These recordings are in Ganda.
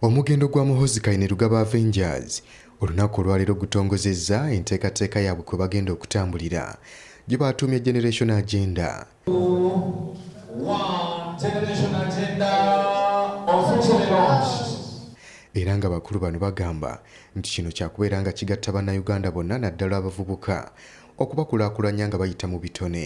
Omugendo gwa Muhoozi Kainerugaba Avengers olunaku olwaleero gutongozezza enteekateeka yaabwe kwe bagenda okutambulira gye baatuumye Generation Agenda. Era nga bakulu bano bagamba nti kino kyakubeera nga kigatta Bannayuganda bonna naddala abavubuka okubakulaakulanya nga bayita mu bitone.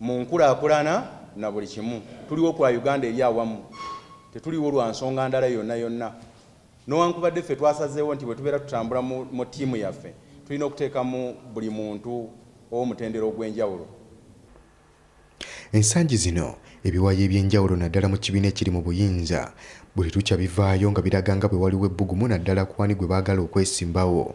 mu nkulakulana na buli kimu tuliwo kwa Uganda eri awamu tetuliwo lwa nsonga ndala yonna yonna nowankubadde ffe twasazeewo nti bwe tubeera tutambula mu ttiimu yaffe tulina okuteekamu buli muntu ow'omutendero ogw'enjawulo ensangi zino ebiwayi eby'enjawulo naddala mu kibiina ekiri mu buyinza buli lukya bivaayo nga biraga nga bwe waliwo ebbugumu naddala kwani gwe baagala okwesimbawo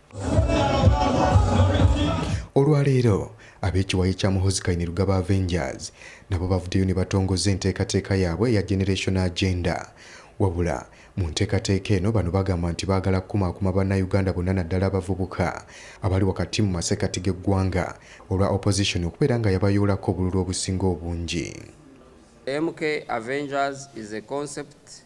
olwaleero ab'ekiwayi kya muhozi kainerugaba avengers nabo bavuddeyo ne batongoza enteekateeka yaabwe eya generation agenda wabula mu nteekateeka eno bano bagamba nti baagala kukumaakuma bannayuganda bonna naddala abavubuka abali wakati mu masekati g'eggwanga olwa opposition okubeera nga yabayoolako obululu obusinga obungi MK Avengers is a concept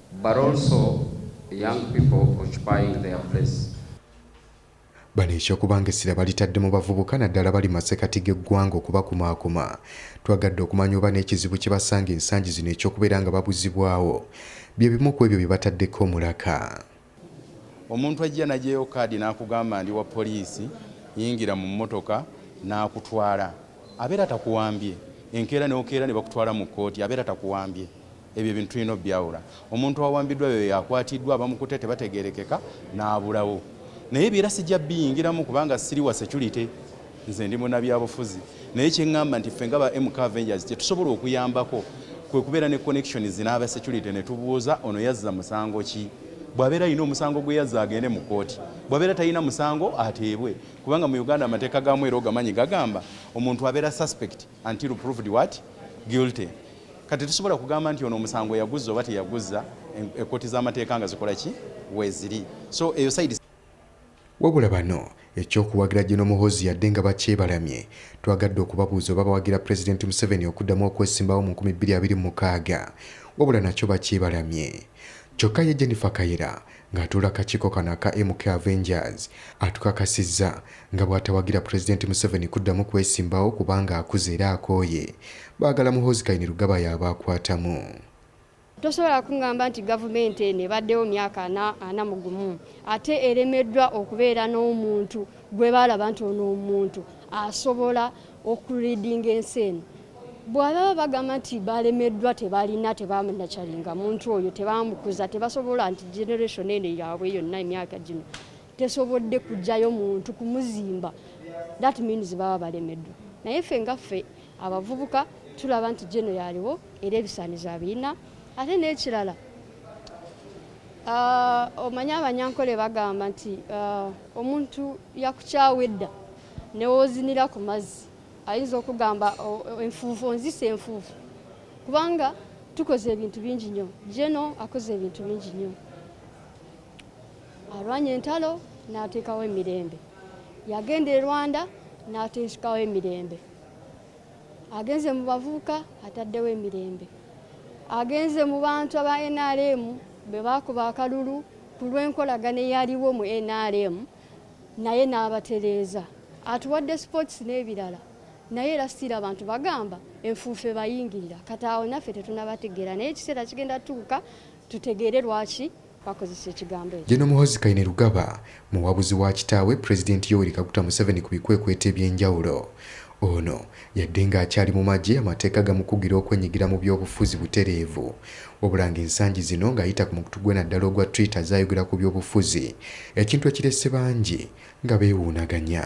But also young people occupying their place. Bano eky'okubanga essira balitadde mu bavubuka naddala bali masekati g'eggwanga okubakumaakuma twagadde okumanya oba n'ekizibu kye basanga ensangi zino eky'okubeera nga babuzibwawo bye bimu ku ebyo bye bataddeko omulaka. Omuntu ajja n'aggyayo kaadi n'akugamba ndi wa poliisi, yingira mu mmotoka n'akutwala abeera takuwambye, enkeera n'okeera ne bakutwala mu kkooti abeera takuwambye. ebyo ebintu tulina obyawula omuntu awambiddwa yoyo akwatiddwa abamukutte tebategerekeka n'abulawo naye byera sijja biyingiramu kubanga siri wa security nze ndi munabyabufuzi naye kyeŋŋamba nti ffe nga ba mk avengers kyetusobola okuyambako kwe kubeera ne connections n'aba security ne tubuuza ono yazza musango ki bw'abeera alina omusango gwe yazza agende mu kkooti bw'abeera talina musango ateebwe kubanga mu uganda amateeka gaamu era ogamanyi gagamba omuntu abeera suspect until proved what guilty kati tusobola kugamba nti ono omusango yaguzza oba teyaguzza ekkooti z'amateeka nga zikola ki weeziri so eyo side wabula bano ekyokuwagira gino muhozi yadde nga bakyebalamye twagadde okubabuuza oba bawagira pulezidenti museveni okuddamu okwesimbawo mu 2026 wabula nakyo bakyebalamye kyokka ye jennifer kayira ng'atuula akakiiko kano aka MK Avengers atukakasizza nga bw'atawagira Pulezidenti Museveni kuddamu kwesimbawo kubanga akuze era akooye. Baagala Muhoozi Kainerugaba y'aba akwatamu. tosobola kungamba nti gavumenti eno ebaddewo myaka ana mu gumu ate eremeddwa okubeera n'omuntu gwe baalaba nti ono omuntu asobola okuridinga ensi eno bwababa bagamba nti balemeddwa tebalina tebamanakyalinga muntu oyo tebamukuza tebasobola nti generation eno yaabwe yonna emyaka gino tesobodde kujjayo muntu kumuzimba that means baba balemeddwa naye ffe nga ffe abavubuka tulaba nti geno yaliwo era ebisaanizo abirina ate n'ekirala ah, omanye abanyankole bagamba nti ah, omuntu yakukyawa edda newozinira ku mazzi ayinza okugamba enfuufu onzisa enfuufu kubanga tukoze ebintu bingi nnyo jeno akoze ebintu bingi nnyo alwanya entalo n'ateekawo emirembe yagenda e rwanda n'ateekawo emirembe agenze mu bavubuka ataddewo emirembe agenze mu bantu aba nrm bwe baakuba akalulu ku lw'enkolagana eyaliwo mu nrm naye n'abatereeza atuwadde sports n'ebirala naye era sitiira abantu bagamba enfuufe bayingirira kati awo naffe tetunabategeera naye ekiseera kigenda tuuka tutegeere lwaki bakozesa ekigambo ekyo jeno muhozi kaine lugaba muwabuzi wa kitaawe pulezidenti yoweri kaguta museveni ku bikwekweto eby'enjawulo Ono yadde ng'akyali mu magye amateeka gamukugira okwenyigira mu byobufuzi butereevu wabula ng'ensangi zino ng'ayita ku mukutu gwe naddala ogwa Twitter azze ayogera ku byobufuzi ekintu ekirese bangi nga beewuunaganya.